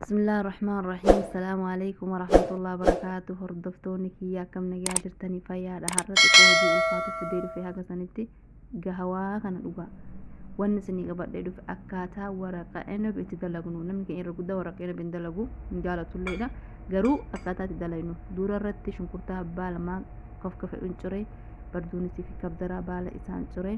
Bismillah ar-Rahmaan ar-Rahiim. Assalaamu alaikum warahmatullahi wabarakaatu. Hordoftoonni kiyya akkam nagaa jirtanii fayyaadha. Har'a xiqqoo hojii ulfaatu fidee dhufe haga sanitti gahawaa kana dhugaa. Wanni isinii qabadhee dhufe akkaataa waraqa enab itti dalagnu. Namni keenya irra guddaa waraqa enab hin dalagu hin jaalatulleedha. Garuu akkaataa itti dalagnu dura irratti shunkurtaa abbaa lamaa kofka fedhuun ciree barduunisii fi kabdaraa baala isaan ciree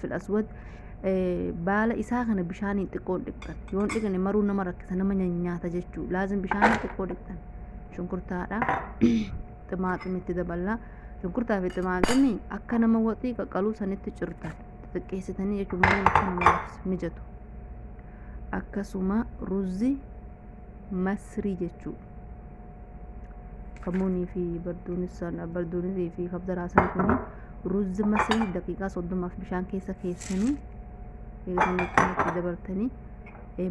fil aswad eh, baala isaa kana bishaaniin xiqqoon dhiqxan yoon dhiqne maruu nama rakkisa nama nyaata jechuu laazim bishaaniin xiqqoo dhiqxan shunkurtaadha ximaaximi itti daballa shunkurtaa fi ximaaximi akka nama waxii qaqqaluu sanitti cirtan xixiqqeessitanii jechuun maruu akka namaaf mijatu akkasuma ruzzi masrii jechuu kamuunii fi barduunii fi kabdaraasaan kun ruuzzi masii daqiiqaa soddomaaf bishaan keessa keessanii eegatanatti dabartanii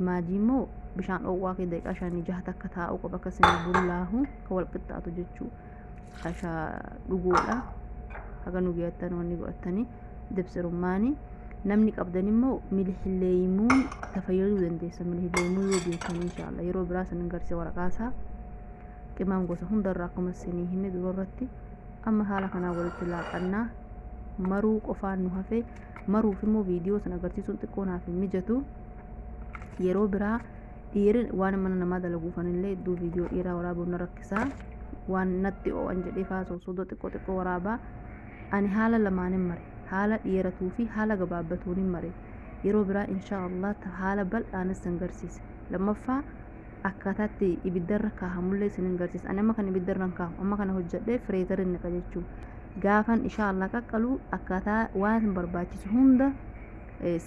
maajii immoo bishaan dhoowwaa fi daqiiqaa shanii jaha takka taa'uu qaba akkasuma bullaahu ka wal qixxaatu jechuudha. kashaa dhuguudha haga nu geeyattan wanni godhattanii dibsirummaani namni qabdan immoo milihilleeymuun tafayyaduu dandeessa milihilleeymuu yoo beekan inshaalla yeroo biraa sanin garse waraqaasaa qimaan gosa hundarra akkuma sinii hime dura irratti amma haala kanaa walitti laaqannaa maruu qofaan nu hafe maruuf immoo viidiyoo san agarsiisuun xiqqoo naaf hin mijatu yeroo biraa dhiiri waan mana namaa dalaguufan illee iddoo viidiyoo dhiiraa waraabuun na rakkisaa waan natti oo'an jedhee faasoo soodoo xiqqoo xiqqoo waraabaa ani haala lamaanin mare haala dheeratuu fi haala gabaabbatuunin mare yeroo biraa inshaa Allah haala bal'aanis san garsiisa lammaffaa akkaataatti ibiddarra kaahamullee isin hin garsiisa ani amma kan ibiddarran kaahu amma kana hojjedhee fireezarin naqa jechuu gaafan inshaa Allah qaqqalu akkaataa waan barbaachisu hunda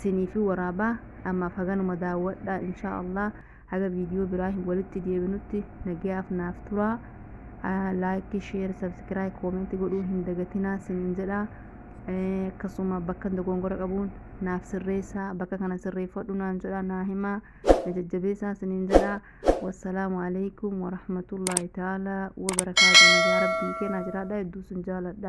siniifi waraabaa ammaaf haganuma daawwadhaa inshaa Allah haga viidiyoo biraa hin walitti deebinutti nagayaaf naaf turaa laayikii sheer sabskiraay koomentii godhuu hin dagatinaa sinin jedha akkasuma bakka dogongora qabuun naaf sirreessaa bakka kana sirreeffadhu naan jedha naa himaa na jajjabeessaa sinin jedha wassalaamu alaikum warahmatullaahi ta'aalaa wabarakaatu nagaa rabbii keenaa jiraadha hedduu sin jaaladha